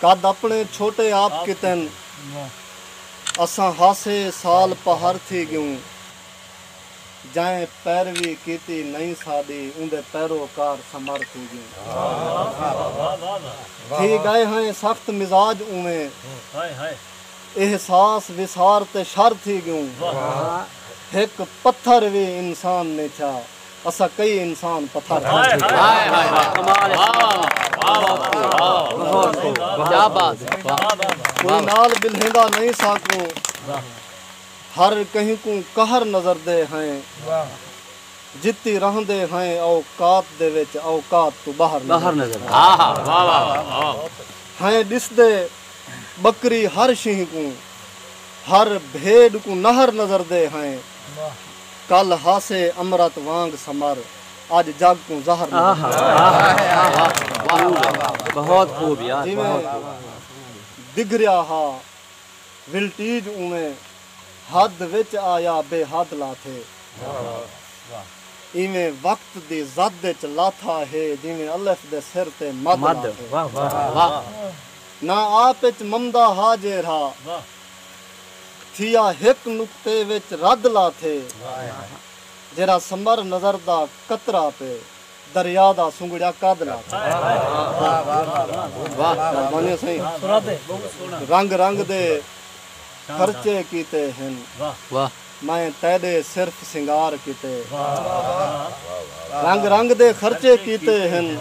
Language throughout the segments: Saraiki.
قد اپݨے چھوٹے آپ کیتن اساں ہاسے سال پہر تھی ڳیوں جئیں پیروی کیتی نئیں ساݙی اوندے پیرو کار سمر تھی ڳیوں تھی ڳئے ہئیں سخت مزاج اوویں احساس وسار تے شر تھی ڳیوں ہک پتھر وی انسان نئیں تھیا اساں کئی انسان پتھر کوئی نال بلھیندا نئیں ساکوں ہر کہیں کوں قہر نظر دے ہیں جتی رہندے ہیں اوقات دے وچ اوقات توں باہر نظر ہیں ڈسدے بکری ہر شیں کوں ہر بھیڈ کوں نہر نظر دے ہیں کل ہاسے امرت وانگ سمر اج جگ کوں زہر نظر آہا آہا آہا بہت خوب یار جیویں دگھریا ہا ولٹیج اونویں حد وچ آیا بے حد لاتھے ایویں وقت دی زد وچ لاتھا ہے جیویں الف دے سر تے مد لاتھے نہ آپ وچ ممدا ہا جیرھا تھیا ہک نقطے وچ رد لا تھے جیرھا ثمر نظر دا قطرہ تے دریا دا سنگڑیا قد لا تھے رنگ رنگ دے خرچے کیتے ہن میں تیڈے صرف سنگار کیتے رنگ رنگ دے خرچے کیتے ہن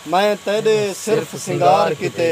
میں تیڈے صرف سنگار کیتے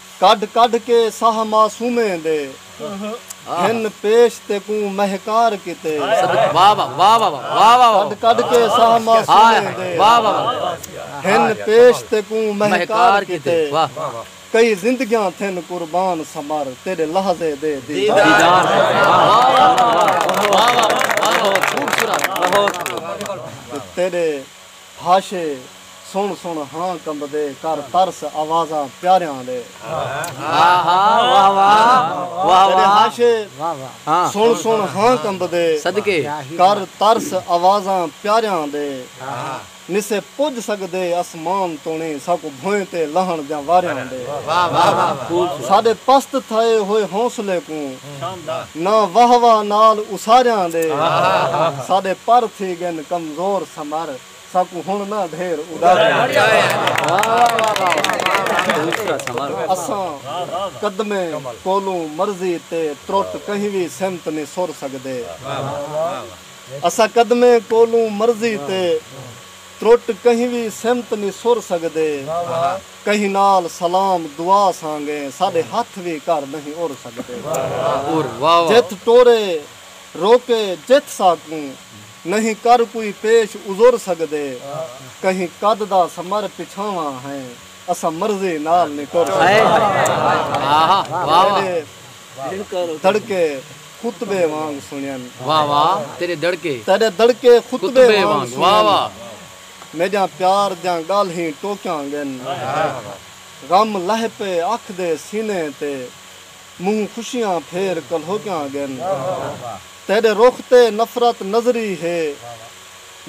کڈھ کڈھ کے ساہ معصومیں دے گھن پیش تیکوں مہکار کیتے کڈھ کڈھ کے ساہ معصومیں دے گھن پیش تیکوں مہکار کیتے کئی زندگیاں تھن قربان سمر تیڈے لحظے دے دیدار کیتے تیڈے بھاشے سݨ سݨ ہاں کمبدے کر ترس آوازاں پیاریاں دے تیݙے بھاشے سݨ سݨ ہاں کمبدے کر ترس آوازاں پیاریاں دے نسے پڄ سڳدے اسمان توں نی ساکوں بھوئیں تے لہݨ دیاں واریاں دے ساݙے پست تھئے ہوئے حوصلے کوں ناں واہ واہ نال اساریاں دے ساڈے پر تھی گن کمزور سمر ساکوں ہن نہ ڈھیر اساں قدمیں کولوں مرضی تے ترٹ کہیں وی سمت نی سر سگدے اساں قدمیں کولوں مرضی تے ترٹ کہیں وی سمت نی سر سگدے کہیں نال سلام دعا سانگے ساڈے ہتھ وی کر نہیں اڑ سگدے جتھ ٹورے روکے جتھ ساکوں نہیں کر کوئی پیش عذر سگدے کہیں قد دا سمر پچھاواں ہیں اساں مرضی نال نی ٹر سگدے تیڈے دڑکے خطبے وانگ سنین تیڈے دڑکے خطبے وانگ سنین۔ میڈیاں پیار دیاں گالہیں ٹوکیاں گن غم لہہ پے اکھ دے سینے تے منہ خوشیاں پھیر کلہوکیاں گن تیڈے رخ تے نفرت نظری ہے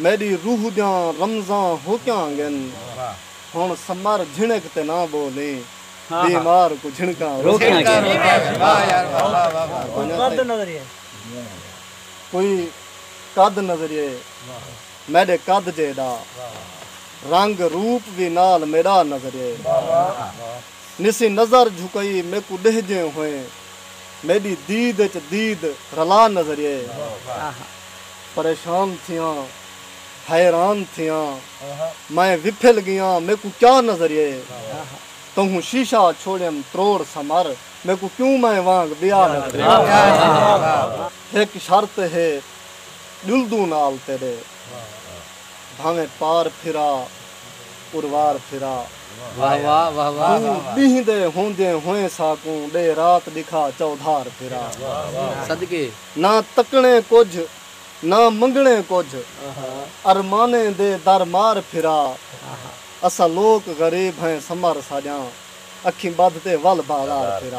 میڈی روح دیاں رمزاں ہوکیاں گن ہن سمر جھنک تے نہ بولیں بیمار کوں جھنکاں روکیاں گن کوئی قد نظریے۔ میݙے قد جیݙا رنگ روپ وی نال میݙا نظریہ نسیں نظر جھکئی میکوں ݙہجیں ہوئیں میݙی دید اچ دید رلا نظریہ پریشان تھیاں حیران تھیاں میں وپھل ڳیاں میکوں کیا نظریہ تہوں شیشہ چھوڑیم تروڑ سمر میکوں کیوں میں وانگ ٻیا نظریہ ہک شرط ہے ڄلدوں نال تیݙے بھانویں پار پھرا پروار پھرا دو ݙینہہ دے ہوندیں ہوئیں ساکوں ݙے رات ݙکھا چودھار پھرا نہ تکݨیں کجھ نہ منگݨیں کجھ ارمانیں دے در مار پھرا اساں لوک غریب ہیں سمر ساڄاں اکھیں ٻدھ تے ول بازار پھرا۔